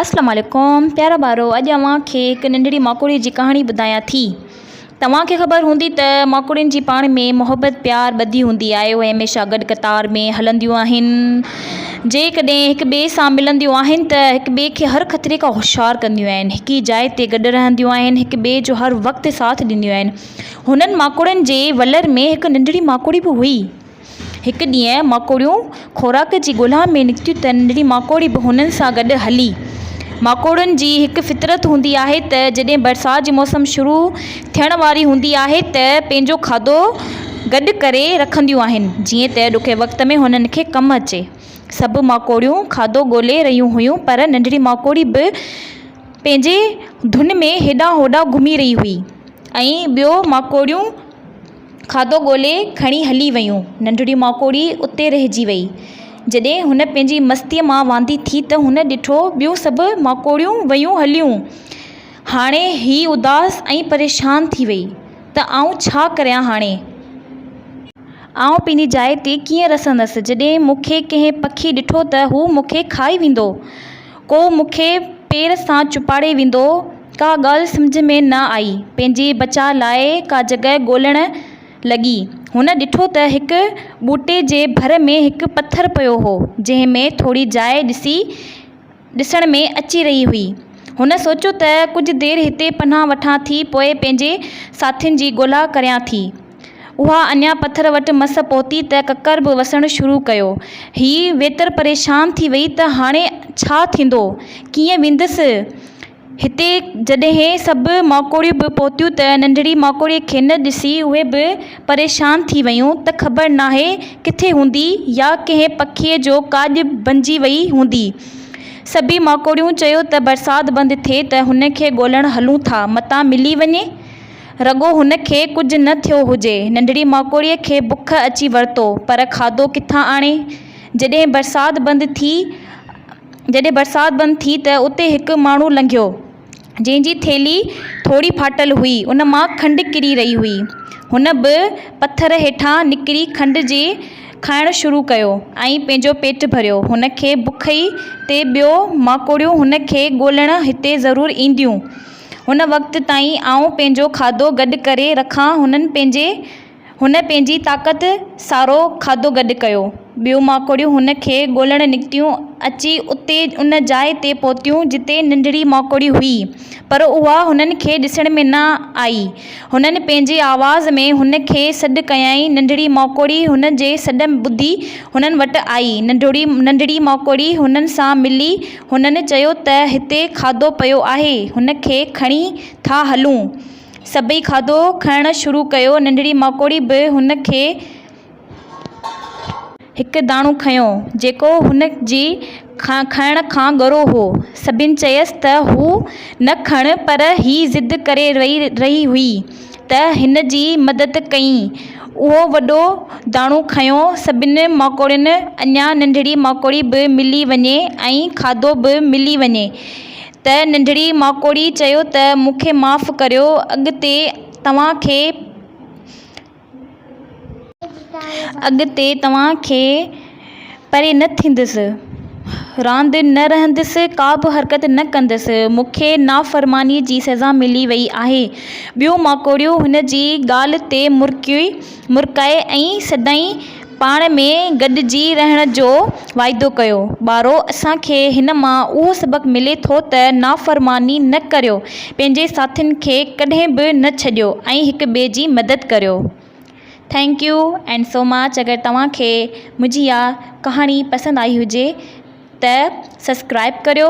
السلام عليڪم پيارا ٻارو اڄ اوهان کي هڪ ننڍڙي ماڪوڙي جي ڪهاڻي ٻڌايان ٿي توهان کي خبر هوندي ته ماڪوڙين جي پاڻ ۾ محبت پيار ٻڌي هوندي آهي اهي هميشه گڏ قطار ۾ هلنديون آهن جيڪڏهن هڪ ٻئي سان ملنديون آهن ته هڪ ٻئي کي هر خطري کان هوشيار ڪنديون آهن هڪ ئي جاء تي گڏ رهنديون آهن هڪ ٻئي جو هر وقت ساٿ ڏينديون آهن هنن ماڪوڙين جي ولر ۾ هڪ ننڍڙي ماڪوڙي به هئي هڪ ڏينهن ماڪوڙيون خوراڪ جي ڳولها ۾ نڪتيون ته ننڍڙي ماڪوڙي به هنن سان گڏ هلي. ماڪوڙين جي هڪ فطرت هوندي آهي ته جڏهن برسات جي موسم شروع ٿيڻ واري هوندي آهي ته پنهنجو کاڌو گڏ ڪري رکنديون آهن جيئن ته ڏکئي وقت ۾ هنن کي ڪم اچي. سڀ ماڪوڙيون کاڌو ڳولي رهيون هيون پر ننڍڙي ماڪوڙي به پنهنجي ڌن ۾ هيڏانهن هوڏانهن گهمي رهي هئي ۽ ٻيو ماڪوڙيون، کاڌو ڳولي کڻي هلي ويون. ننڍڙي ماڪوڙي اتي رهجي وئي. جڏهن هن پنهنجي مستيء مان واندي ٿي ته هن ڏٺو ٻيون سڀ ماڪوڙيون ويون هليون. هاڻي هيء اداس ۽ پريشان ٿي وئي ته آئون ڇا ڪريان هاڻي؟ آئون پنهنجي جاء تي ڪيئن رسندس؟ جڏهن مون کي ڪنهن پکي ڏٺو ته هو مون کي کائي ويندو. ڪو مون کي پير سان چپاڙي ويندو. ڪا ڳالهه سمجهه ۾ نه آئي. پنهنجي بچاء لاء ڪا جڳهه ڳولڻ لڳي. هن ڏٺو ته هڪ ٻوٽي جي ڀر ۾ هڪ پٿر پيو هو، جنهن ۾ ٿوري جاء ڏسي ڏسڻ ۾ اچي رهي هئي. هن سوچيو ته ڪجهه دير هتي پناهه وٺان ٿي پوء پنهنجي ساٿين جي ڳولا ڪريان ٿي. اها اڃا پٿر وٽ مس پهتي ته ڪڪر به وسڻ شروع ڪيو. هيء ويتر پريشان ٿي ويئي ته هاڻي ڇا ٿيندو؟ ڪيئن ويندس؟ هتي جڏهن سڀ ماڪوڙيون به پهتيون ته ننڍڙي ماڪوڙيء کي نه ڏسي اهي به پريشان ٿي ويون ته خبر ناهي ڪٿي هوندي يا ڪنهن پکيء جو ڪاڄ بنجي ويئي هوندي. سڀيئي ماڪوڙيون چيو ته برسات بند ٿئي ته هن کي ڳولڻ هلون ٿا، متان ملي وڃي. رڳو هن کي ڪجهه نه ٿيو هجي. ننڍڙي ماڪوڙيء کي بک اچي ورتو، پر کاڌو ڪٿان آڻي؟ جڏهن برسات بند ٿي، جڏهن برسات بند ٿي ته اتي هڪ ماڻهو لنگهيو، جنهن جي ٿيلهي ٿوري ڦاٽل هئي، ان مان کنڊ ڪري رهي هئي. هن به پٿر هيٺان نڪري کنڊ جي کائڻ شروع ڪيو ۽ پنهنجو پيٽ ڀريو. هن کي بک هئي ته ٻيو ماڪوڙيون هن کي ڳولڻ هتي ضرور اينديون. هن وقت تائين آئون پنهنجو کاڌو گڏ ڪري رکان هنن پنهنجي هن پنهنجي طاقت سارو کاڌو گڏ ڪيو ٻيون ماڪوڙيون هن کي ڳولڻ نڪتيون اچي اتي ان جاء تي پهتيون جتي ننڍڙي ماڪوڙي هئي پر اها هنن کي ڏسڻ ۾ نه آئي هنن پنهنجي آواز ۾ هن کي سڏ ڪيائين ننڍڙي ماڪوڙي هن جي سڏ ٻڌي هنن وٽ آئي ننڍڙي ماڪوڙي هنن سان ملي هنن چيو ته هتي کاڌو پيو آهي، هن کي کڻي ٿا هلون. سڀئي کاڌو کڻڻ شروع ڪيو، ننڍڙي ماڪوڙي به هن کي هڪ داڻو کنيو، جيڪو هن جي کائڻ کان ڳرو هو. سڀني چيس ته هو نه کڻ پر هي ضد ڪري رهي هئي. ته هن جي مدد ڪيئين. اهو وڏو داڻو کنيو، سڀني ماڪوڙين، اڃا ننڍڙي ماڪوڙي به ملي وڃي ۽ کاڌو به ملي وڃي. ته ننڍڙي ماڪوڙي چيو ته مون کي معاف ڪريو، اڳتي توهان کي. اڳتي توهان کي پري نه ٿيندس، راند نه رهندس، ڪا به حرڪت نه ڪندس، مون کي نافرمانيء جي سزا ملي ويئي آهي. ٻيون ماڪوڙيون هن جي ڳالهه تي مرڪي مرڪائي ۽ سدائين پاڻ ۾ گڏجي رهڻ جو واعدو ڪيو. ٻارو! اسان کي هن مان اهو سبق ملي ٿو ته نافرماني نه ڪريو. پنهنجي ساٿين کي ڪڏهن به نه ڇڏيو ۽ هڪ ٻئي جي مدد ڪريو thank you and so much اگر توهان کي منهنجي اها ڪهاڻي پسند آئي هجي ته سسڪرائب ڪريو.